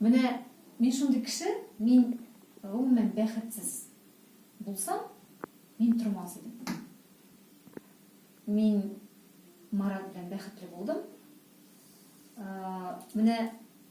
Менә мин шундый кеше, мин гомумән бәхетсез булсам, мин тормас идем. Мин Марат белән бәхетле булдым. Менә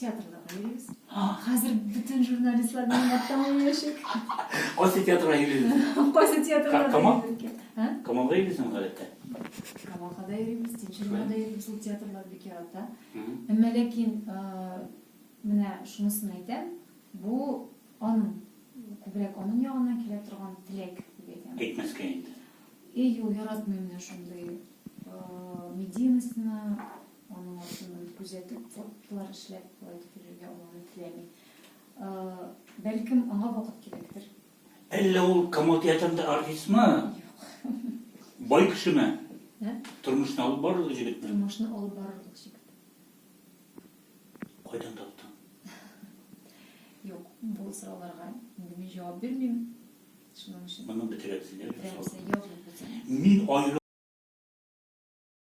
Театрга йөрибез. Хәзер бөтен журналистлар белән яттан йөрәшик. Кайсы театрга йөрибез? Кайсы театрга? Камал? Һә? Камалга йөрибезме гадәттә? Камалга да йөрибез, Тинчуринга да йөрибез. Ул театрлар бик ярата. Әмма ләкин менә шунысын әйтәм, бу аның күбрәк аның ягыннан килә торган теләк дип әйтәм. Әйтмәскә инде. Әйе, яратмыйм мин шундый медийностьны, Аның артыннан күзәтеп, фотлар эшләп, болай дип йөрергә уланы теләми. Бәлкем, аңа вакыт кирәктер. Әллә ул Камал театрында артистмы? Юк. Бай кешеме? Ә? Тормышны алып барырлык җегетме? Тормышны алып барырлык җегет. Кайдан таптың? Юк, бу сорауларга инде мин җавап бирмим. Шуның өчен. Моны бетерәбез инде. Бетерәбез, язып бетерәбез. Мин аеры